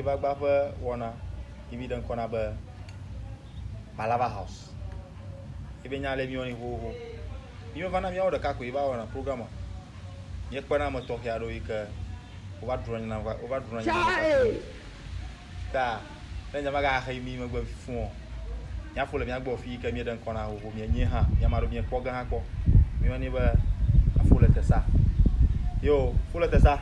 Vagba ƒe wɔna yi mi ɖe ŋkɔ na be Malava House. Ebe nya le miwo ni xoxo. Mi va na miawo ɖeka ko yi va wɔna program. Ye kpena me tɔxɛ aɖewo yi ke wova drɔ̃ nyina wova drɔ̃ nyina. Ta Ne nya magaxe mí megbe fũ o. Mía fo le mía gbɔ fii ke míeɖe ŋkɔ na xoxo mía nyie hã. Mía maɖo mía kpɔ ge hã kpɔ. Mí yɔ ni be afo le tesa. Yo, fo le tesa.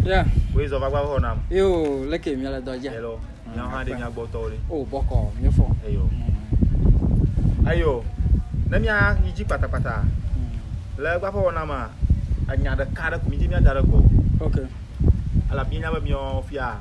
Yeah. Wei zɔ vagba ho nam. Yo, leke mía le dɔ dja. Hello. Mía hã de mía gbɔ tɔ le. Oh, boko, mí fo. Eyo. Mm. Ayo. Ne mía yi dji pata pata. Mm. Le gba ho nam a. Anya de ka de ku mí dji mía da de gbɔ. Okay. Ala mía nya be mía fia.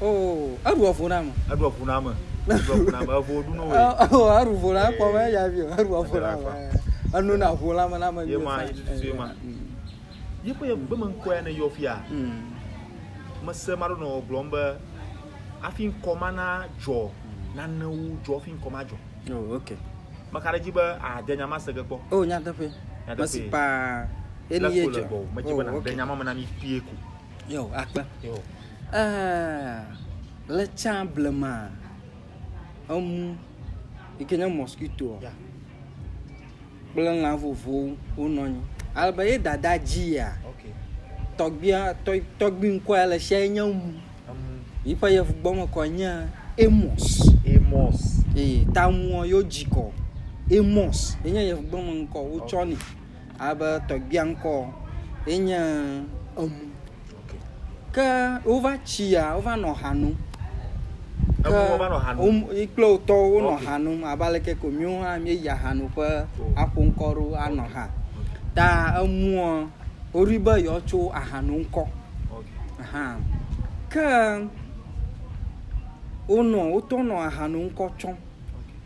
Oh, eɖu evo na me. Eɖu evo na me. Eɖu evo na me. Evo ɖu no we. Oh, eɖu vo na kpɔ me ya bi. Eɖu evo na me. Enu na vo la me na me. Ye ma, ye tu tu ye ma. Ye pe ye gbe me nkɔ ya ne yɔ fia. Hmm. Mese ma ɖo no gblɔm be afi nkɔ ma na jɔ nane wu jɔ fi nkɔ ma jɔ. Oh, okay. Meka ɖe dzi be ade nya ma sege kpɔ. Oh, nyateƒe. Nyateƒe. Mesi pa. Eni ye jɔ. Medi be na de nya ma me na mi fie ko. Yo, akpe. Yo. Eh, le tsã blema, emu, yi ke nye mosquito, Ya. kple lã vovovowo wonɔ anyi. Ale be ye dada dzia, Ok. tɔgbia, tɔ, tɔgbi ŋkɔ ya le sia ye nye emu. Emu. Yiƒe yevugbɔmekɔ nye Amos. Amos. Eye tamua yewo dzikɔ Amos. Yenye yevugbɔmeŋkɔ wotsɔ nɛ. Alebe tɔgbia ŋkɔ ye nye Emu. Ke wova tsi ya, wova nɔ ha nom. Ke yi kple wo tɔwo wonɔ ha nom abe aleke ko míwo hã míeyi ahanoƒe aƒo ŋkɔ ɖo anɔ ha. Ta emua woɖoe be yewoatso aha nom ŋkɔ. Aha. Ke wonɔ wotɔ nɔ aha nom ŋkɔ tsɔm.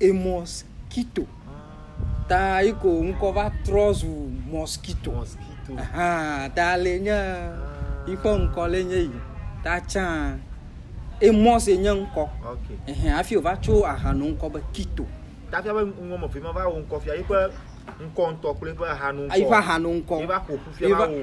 Emɔskito. Ta yi ko ŋkɔ va trɔ zu mɔskito. Mɔskito. Ahan, ta le nye yi ƒe ŋkɔ le nye yi. Ta tsã Emɔs ye nye ŋkɔ. Ok. Ehɛn, hafi wòva tso ahanu ŋkɔ be Kito. Ta fia be ŋ- ŋmɔmefo yi ma va wo ŋkɔ fia, yi ƒe ŋkɔ ŋutɔ kple yi ƒe ahanu ŋkɔ. Yi ƒe ahanu ŋkɔ. Yi va ƒo ƒu fia Yi va va- wo.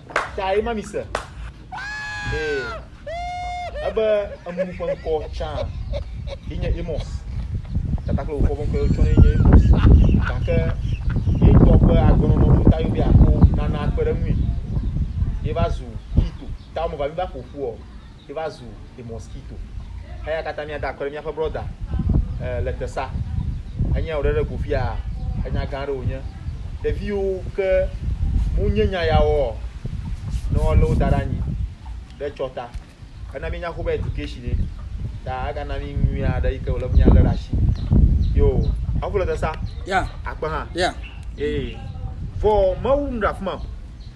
tae ma mi se. Ee. Ebe emunu ƒe ŋkɔ tsã yi nye Amos. Tata kple wofɔ ƒe ŋkɔ tsɔ yi nye Amos. Gake yi ŋutɔ ƒe agbenɔnɔ ƒe ta yobi ako nana akpe ɖe ŋui. Yi va zu Kito. Ta wɔme va mi va ƒoƒu o. ye va zu the mosquito eya katã mía da akɔ ɖe míaƒe brɔda eh, le tesa enye wòɖe ɖe go fia enya gã aɖe wònye ɖeviwo ke mu nye nya ya wɔ ne wolé wo da ɖe anyi ɖe tsɔ ta ena míenya xobe education ye ta egana mí nyui aɖe yi ke wòle míalé ɖe asi yo aƒu le tesa ya akpe hã ya ee vɔ mawu nu ɖe afi ma o.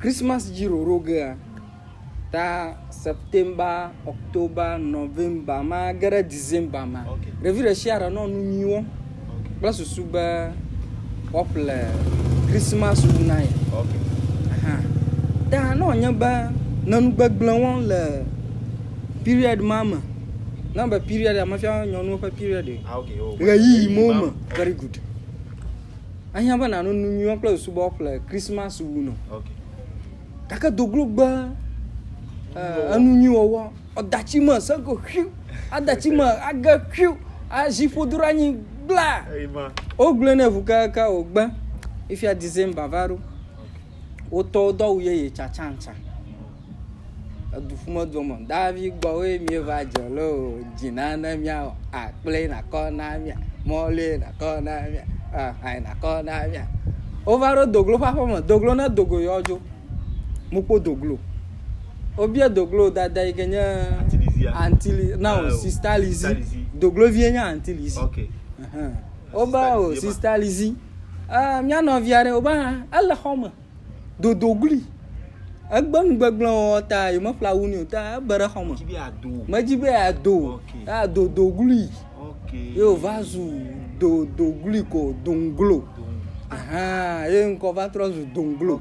Christmas dzi roro gea, ta September, October, November ma ge ɖe December ma, ɖevi ɖe sia ɖe nɔ nu nyui wɔm kple susu be woaƒle Christmas ŋu na ye. Aha. Ta ne wònye be ne nu gbegblẽ wɔm le period ma me, na be period ya mefia nyɔnuwo ƒe period o. Ah, okay, oh, Ɣeyiɣi mo me. Very good. Ahiã be nàno nu nyuiwo kple subɔwo ƒle Kristmas wu nɔ. Gake do glo gbe enu nyui wɔwɔ. Eda tsi me se ko xiu. Ada tsi me age xiu. Azi ƒodo ɖe anyi gbla. Wogblɔe nɛ ŋu keke wògbe. Ifia December va ɖo. Wotɔwo do awu yeye tsatsantsa. edu ƒum edu me. Davi gbɔ woe mí va dze lo dzi na ne mía wɔ a kple na kɔ na mía mɔli na kɔ na mía aha na kɔ na mía. Wova ɖo doglo ƒe aƒeme. Doglo ne dogo yewo adzo. Mu kpɔ doglo. Wobia doglo dada yi ke nye antili na o sista lizi. Doglo vie nye anti lizi. Okay. Wobe o sista lizi. Eh mía nɔvia ɖe wobe hã ele xɔ me. dodoglui. Egbe nu gbegblẽ wɔwɔ ta yemeƒle awu nɛ o ta ebe ɖe xɔme. Medzi be yeado o ta dodoglui ye wòva zu dodoglui ko doŋglo. Ahaa ye ŋkɔ va trɔ zu doŋglo.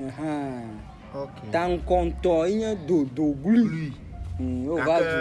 Ahaa taŋkɔ ŋutɔ ye nye dodoglui. Ye wòva zu.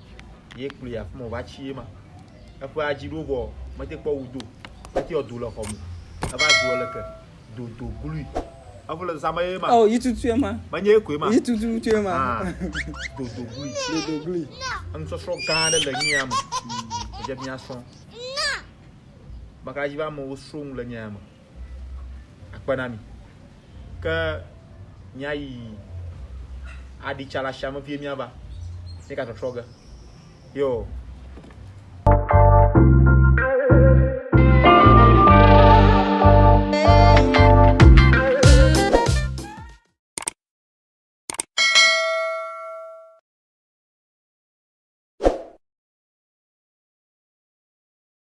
ye kplɔe afi ma wòva tsi ye ma. Eƒe adzi ɖo vɔ mete kpɔ wu do, mete yɔ do le xɔ me. Eva zu leke do do glui. Evo le zama ye ma. Oh, yi tutu ye ma. Menye ye koe ma. Yi tutu tutu ye ma. Ah, do do glui. Do do glui. Enusɔsrɔ̃ gã aɖe le nyia ya me. Dze mia srɔ̃. Maka dzi va amewo srɔ̃ nu le nyia ya me. akpe na mi. Ke míayi aɖi tsa le ashia me vie míava. Míegatrɔtrɔ ge. Yo.